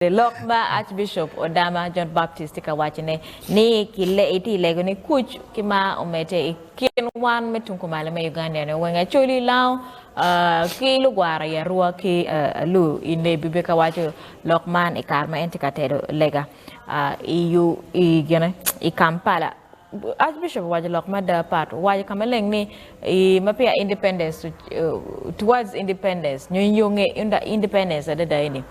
Lok ma Archbishop Odama John Baptist tye ka waco ne ni itye i lego ni kuc ki mar omedde i kin wan me tung kumalo me Uganda ni wenge Acholi Lango ki lugwara i Arua ki Alu i Nebbi be ka waco lok man i kare ma en tye ka tero lega i Kampala. Archbishop owaco lok mada pat owaco ka maleng ni ma peya independence towards independence nyo inge independence adada eni.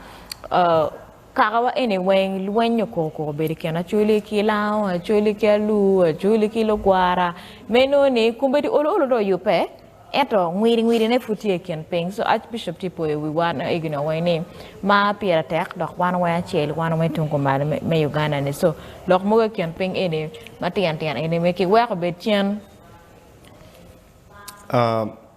kakawa eni weng lweny okor kor bedo i kin Acholi ki Lango, Acholi ki Alur, Acholi ki Lugwara. Ma inongo ni kombeddi olo olo dong oyubbe ento ngwidi ngwidi ne pud tye i kin piny. So Arch Bishop tye poyo wi wa ma egi nongo weng ni mar pire tek dok wan weng acel wan weng tung kumalo me Uganda ni. So lok mogo i kin piny eni matino tino eni weng ki weko obed cen.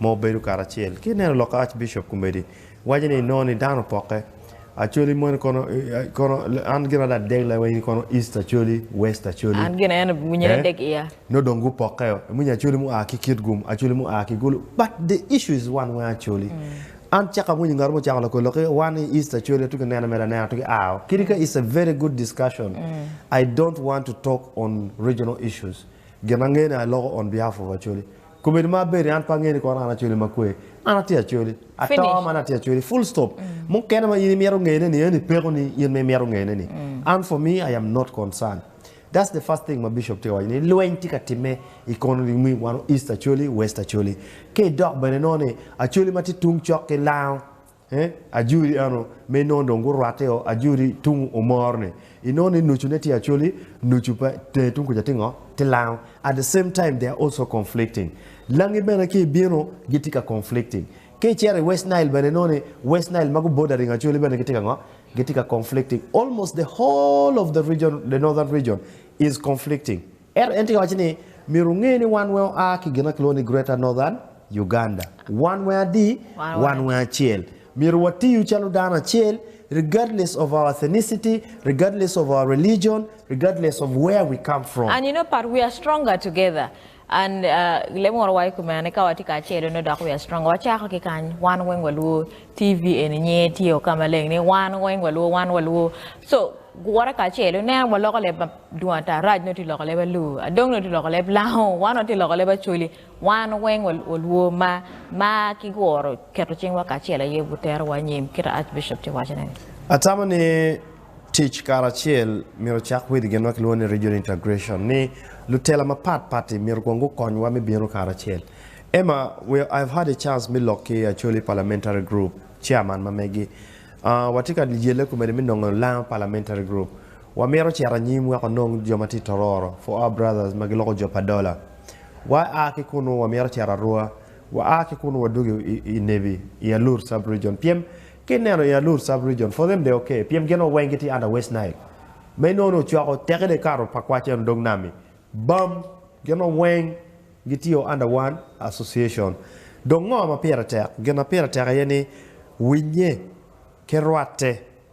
ma obedo karacel ki ineno lok Archbishop Kumedi waco ni inongo ni dano opoke Acholi moni kono kono an gin ada adeg laiwa in kono East Acholi, West Acholi. An gin en winyere eh? deg iya. Nongo dong gupokeyo. Iwinyo Acholi mua ki Kitgum, Acholi mua ki Gulu, but the issue is one weng Acholi. An caka awinyo ngat mo ocako loko lok ki wan i East Acholi atuki neno mere anena atuki ao. Kidi ka it's a very good discussion. I don't want to talk on regional issues. Gin angeyo ni aloko on behalf of Acholi. Kobedo ma abedo-ni an pe angeyo ni kono an acoli makwe. An atye acoli. Ato man atye acoli. Full stop. Mukene ma in imito ngeyone ni eni pekoni in ma imito ngeyone ni. An for me I am not concern. That's the first thing ma Bishop tye ka waco ni lweny tye ka timme I kono ni mi wano East acoli, West acoli. Ka idok bene inongo ni acoli ma tye tung cok ki lango He, ajuri ano, me inongo dong gurwatte o, ajuri tung omor ni inongo ni nucu ne tye actually nucu pe, tenge tung kuca tye ngo? Tye lango. At the same time they are also conflicting. Langi bene ki ibino gitye ka conflicting. Ka icito i West Nile bene inongo ni West Nile ma gu bordering actually bene gitye ka ngo? Gitye ka conflicting. Almost the whole of the region, the northern region is conflicting. Ento en tye ka wacci ni, Myero wunge ni wan weng oa ki gin ma kilwongo ni Greater Northern Uganda. Wan weng adi? Wan weng acel. Myero watiyu calo dano acel, regardless of our ethnicity, regardless of our religion, regardless of where we come from. And you know but we are stronger together and lemoro wa i kumene ka watye kacel onongo dok we are stronger. Wacako ki kany, wan weng waluo, TV eni nyinge tye o ka maleng ni wan weng waluo, wan waluo. So guwote kacel, ineno waloko leb ma. Dong ata arac nongo tye loko leb alur, adong nongo tye loko leb lango, wan nongo tye loko leb acoli. Wan weng walwor ma ma ki woro keto cing wa kacel aye wutero wa anyim kit a Arch Bishop tye waco ne. Atamo ni tic kara acel myero ocak with gin ma kilwongo ni Regional Integration ni lutela ma pat patti myero kong gukony wa me bino kara acel. Emma, we I have had a chance me lok ki Acholi Parliamentary Group, Chairman ma megi. Watye ka yelle kumeni me nongo Lango Parliamentary Group. Wamito cito anyim wek wanong jo ma tye i Tororo, For Our Brothers, ma giloko jo pa Dola. Wa a ki kunnu wamito cito Arua. Wa a ki kunnu wadwogo i Nebi, i Alur Sub-Region. Pien, ka ineno i Alur Sub-Region, for them they're okay, pien gin o weng gitye under West Nile. Ma inongo ni ocwako teki dong ikato pa kwac eno dog nam-mi. Bam! Gin o weng gitye o under one association. Dong ngo ma pire tek? Gin ma pire tek aye ni winnye ki rwatte.